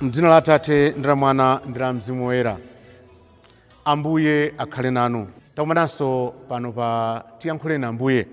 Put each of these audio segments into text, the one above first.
mdzina la atate ndi la mwana ndi la mzimu woyera ambuye akhale nanu takumananso pano pa tiyankhuleni ambuye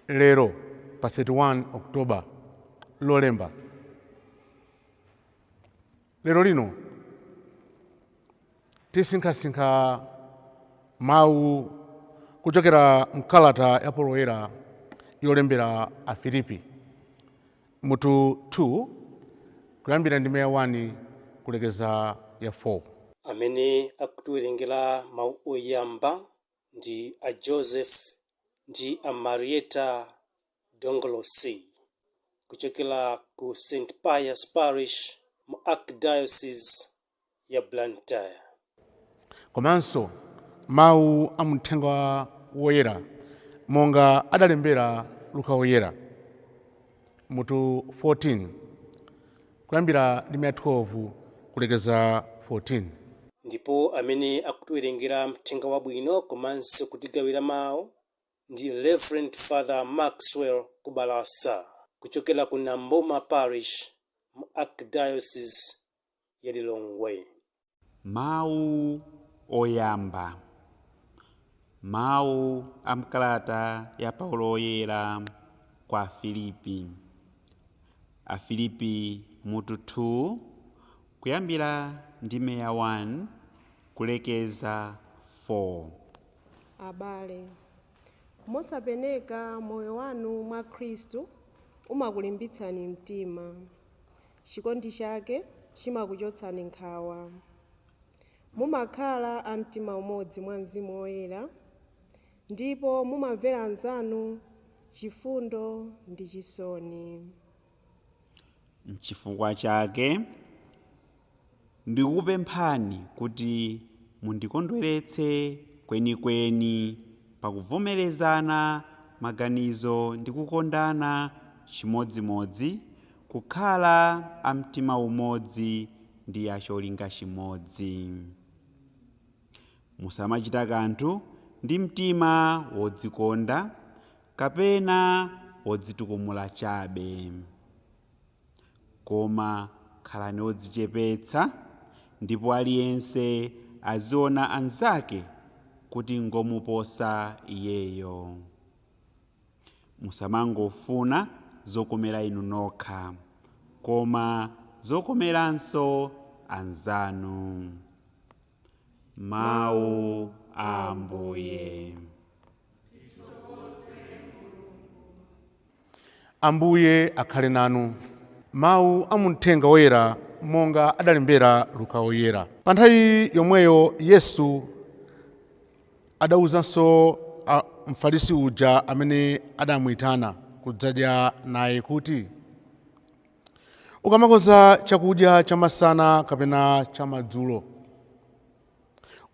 lero pa 31 oktoba lolemba lero lino tisinkhasinkha mawu kuchokera mkalata ya paulo woyera yolembera afilipi Mutu 2, Kuyambira ndime ya 1 kulekeza ya 4. Amene akutiwerengera mau oyamba ndi a Joseph ndi a Marietta Dongolosi kuchokera ku St. Pius Parish mu Archdiocese ya Blantyre. Komanso mau a m'Uthenga Woyera monga adalembera Luka Woyera, mutu 14, kuyambira ndime ya 12 kulekeza 14. Ndipo amene akutiwerengera Uthenga Wabwino komanso kutigawira mau ndi Reverend Father Maxwell Kubalasa kuchokera ku Nambuma Parish mu Archdiocese ya Lilongwe. Mawu Oyamba Mawu a m'kalata ya Paulo Woyera kwa Afilipi Afilipi mutu 2 kuyambira ndime ya 1 kulekeza 4. Abale, mosapeneka moyo wanu mwa Khristu umakulimbitsani mtima. Chikondi chake chimakuchotsani nkhawa. Mumakhala a mtima umodzi mwa Mzimu Woyera ndipo mumamvera anzanu chifundo ndi chisoni. N'chifukwa chake Ndikukupemphani kuti mundikondweretse kwenikweni pakuvomerezana maganizo ndi kukondana chimodzimodzi, kukhala a mtima umodzi ndi a cholinga chimodzi. Musamachita kanthu ndi mtima wodzikonda kapena wodzitukumula chabe. Koma khalani odzichepetsa ndipo aliyense aziona anzake kuti ngomuposa iyeyo. Musamangofuna zokomera inu nokha, koma zokomeranso anzanu. Mawu a Ambuye. Ambuye akhale nanu. Mau a mumthenga woyera monga adalembera Luka Woyera. Pa nthawi yomweyo Yesu adauzanso Mfarisi uja amene adamuitana kudzadya naye kuti, Ukamakonza chakudya chamasana kapena chamadzulo,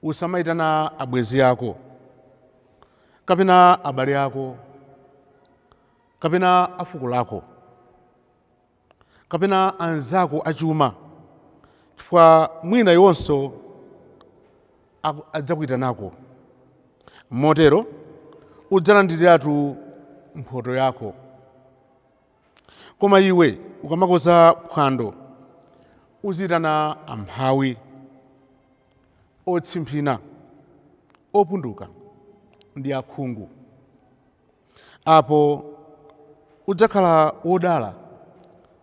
Usamaitana abwenzi ako kapena abale ako kapena a fuko lako kapena anzako achuma, chifukwa mwina iwonso adzakuitanako. Motero udzalandiriratu mphoto yako. Koma iwe ukamakonza phwando, uziitana amphawi, otsimphina, opunduka ndi akhungu. Apo udzakhala wodala,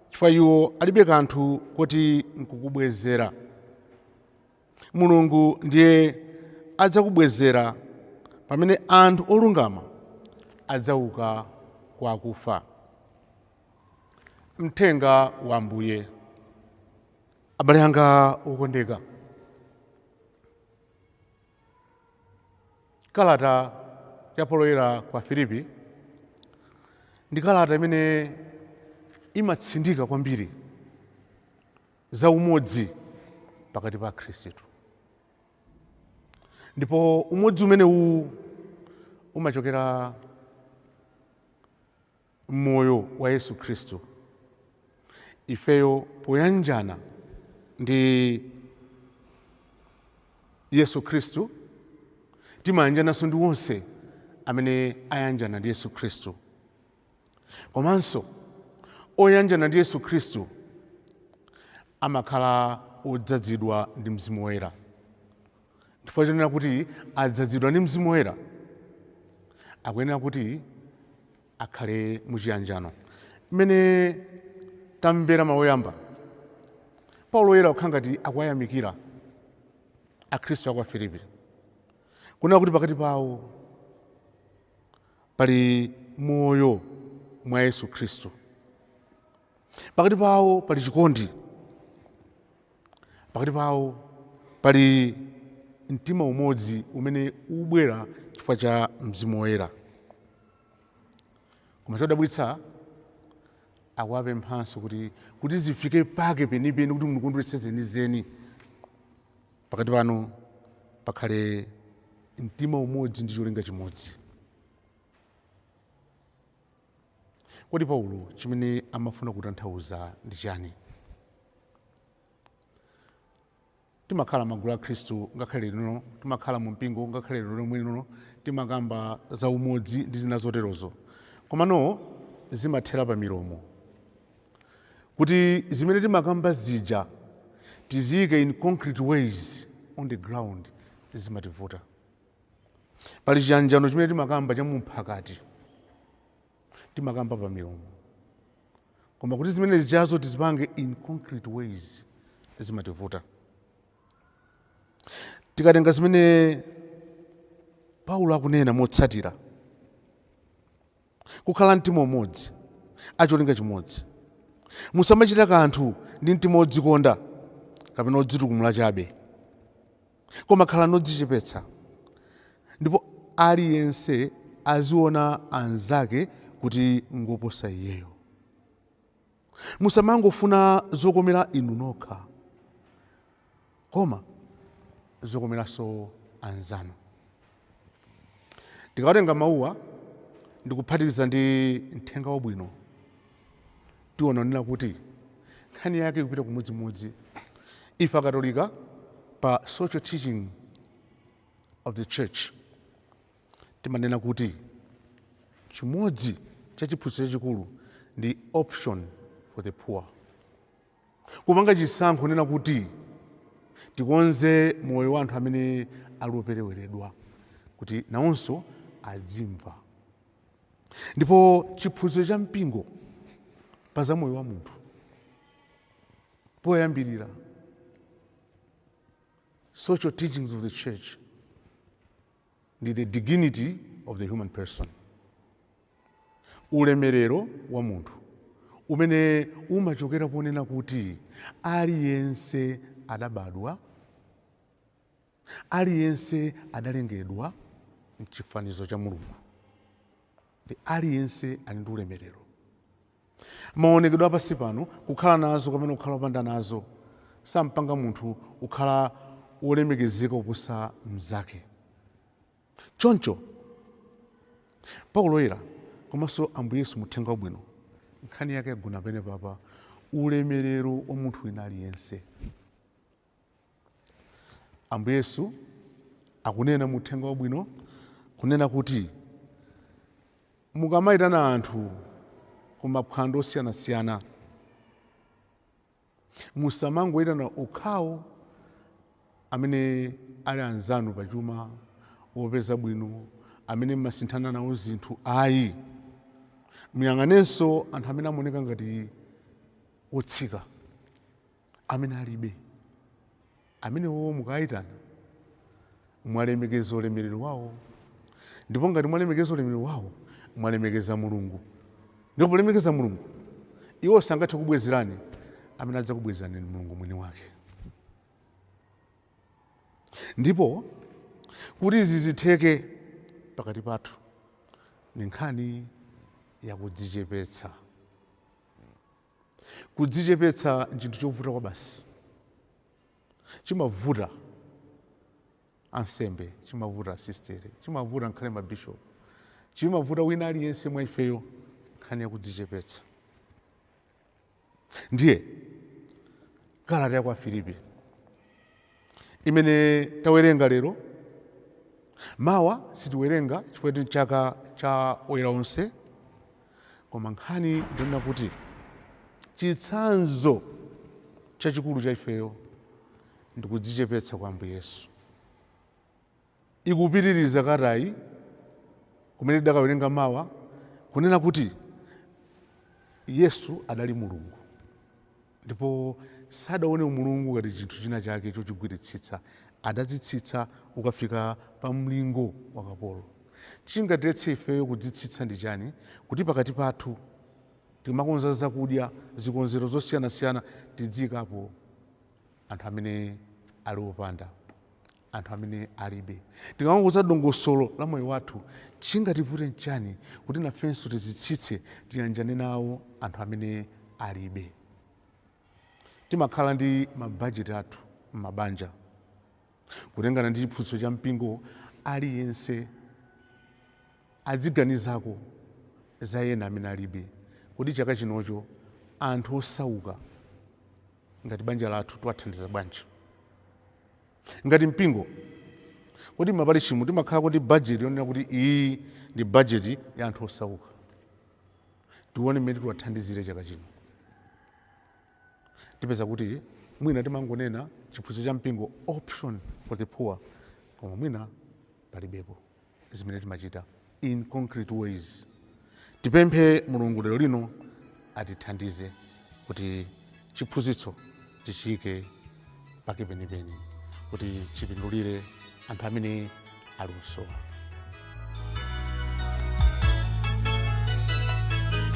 chifukwa iwo alibe kanthu koti nkukubwezera. Mulungu ndiye adzakubwezera pamene anthu olungama adzauka kwa akufa. Mthenga wa Ambuye. Abale anga okondeka, kalata ya Paulo Woyera kwa Afilipi ndi kalata imene imatsindika kwambiri za umodzi pakati pa Akhristu. Ndipo umodzi umenewu umachokera m'moyo wa Yesu Khristu. Ifeyo poyanjana ndi Yesu Khristu timayanjananso ndi onse amene ayanjana ndi Yesu Khristu. komanso oyanjana ndi yesu khristu amakhala odzadzidwa ndi mzimu woyera chifukwa chonena kuti adzadzidwa ndi mzimu woyera akuyenera kuti akhale muchiyanjano mmene tamvera mawu oyamba paulo woyera kukhala ngati akuwayamikira akhristu a kwa afilipi kunena kuti pakati pawo Pali moyo mwa Yesu Khristu. Pakati pawo pali chikondi. Pakati pawo pali mtima umodzi umene ubwera chifukwa cha Mzimu Woyera. Koma chodabwitsa akuwapemphanso kuti kuti zifike pake penipeni kuti mundikondweretse zenizeni. Pakati panu pakhale mtima umodzi ndi cholinga chimodzi. Kodi Paulo chimene amafuna kutanthauza ndi chani? Timakhala magulu a Khristu ngakhale linolino, timakhala mu mpingo ngakhale lero lomwe lino, timakamba za umodzi ndi zina zoterozo. Komano zimathera pa milomo. kuti zimene timakamba zija tiziike in concrete ways on the ground zimativuta. Pali chiyanjano chimene timakamba cha mumphakati, timakamba pa milomo, koma kuti zimene zijazo tizipange in concrete ways zimativuta. Tikatenga zimene Paulo akunena motsatira, Kukhala amtima umodzi, a cholinga chimodzi. Musamachita kanthu ndi mtima wodzikonda kapena odzitukumula chabe, koma khalani odzichepetsa, ndipo aliyense aziona anzake kuti ngoposa iyeyo. musamangofuna zokomera inu nokha koma zokomeranso anzanu tikawatenga mawuwa ndikuphatikiza ndi mthenga wabwino tiona nena kuti nkhani yake ikupita kumodzimodzi ife akatolika pa social teaching of the church Timanena kuti chimodzi cha chiphunzitso chachikulu ndi option for the poor. Kupanga chisankho nena kuti tikonze moyo wa anthu amene ali opereweredwa kuti nawonso adzimva. Ndipo chiphunzitso cha mpingo pa za moyo wa munthu poyambirira social teachings of the church ndi the dignity of the human person ulemerero wa munthu umene umachokera ponena kuti aliyense adabadwa aliyense adalengedwa mchifanizo cha mulungu ndi aliyense ali ndi ulemerero Maonekedwe a pansi pano, kukhala nazo kapena kukhala opanda nazo, sampanga munthu kukhala wolemekezeka kuposa mnzake. Choncho, Paulo Woyera komanso Ambuye Yesu mu Uthenga Wabwino, nkhani yake yagona penepapa ulemerero wa munthu wina aliyense. Ambuye Yesu akunena mu uthenga wabwino kunena kuti mukamayitana anthu ku maphwando osiyanasiyana musamangoyitana okhawo amene ali anzanu pa chuma wopeza bwino amene mmasinthana nawo zinthu ayi muyang'anenso anthu amene amaoneka ngati otsika amene alibe amenewo mukayitana mwalemekeza ulemerero wawo ndipo ngati mwalemekeza ulemerero wawo mwalemekeza mulungu ndipo polemekeza mulungu iwo sangathe kubwezerani amene adzakubwezerani ni mulungu mwini wake ndipo kuti izi zitheke pakati pathu ni nkhani yakudzichepetsa Kudzichepetsa n'chinthu chovuta kwabasi. Chimavuta ansembe, chimavuta asistere, chimavuta ngakhale mabishopu, chimavuta wina aliyense mwa ifeyo nkhani ya kudzichepetsa. Ndiye kalata ya kwa Afilipi imene tawerenga lero. Mawa sitiwerenga chifukwa ndi chaka cha oyera onse, koma nkhani ndinena kuti chitsanzo chachikulu cha ifeyo ndikudzichepetsa kwa Ambuye Yesu. Ikupitiriza kalatayi, kumene tidakawerenga mawa, kunena kuti Yesu adali Mulungu ndipo sadaone umulungu ngati chinthu china chake chochigwiritsitsa. Adadzitsitsa kukafika pa mlingo wa kapolo. Chingatiletse ifeyo kudzitsitsa ndi chani kuti pakati pathu tikamakonza zakudya, zikonzero zosiyanasiyana tidziikapo anthu amene ali opanda? anthu amene alibe. Tikamakonza dongosolo la moyo wathu, chingativute n'chani kuti nafenso tizitsitse tiyanjane nawo anthu amene alibe? Timakhala ndi mabajeti athu m'mabanja. Kutengana ndi chiphunzitso cha mpingo, aliyense adziganizako za ena amene alibe. Kodi chaka chinocho anthu osauka ngati banja lathu tiwathandiza bwanji? Ngati mpingo, kodi m'maparishimu timakhalako ndi bajeti yonena kuti iyi ndi bajeti ya anthu osauka? Tione mmene tiwathandizire chaka chino. Tipeza kuti mwina timangonena chiphunzitso cha mpingo, Option for the Poor, koma mwina palibepo. zimene timachita in concrete ways tipemphe mulungu lero lino atithandize kuti chiphunzitso tichiyike pake penipeni kuti chipindulire anthu amene ali kusowa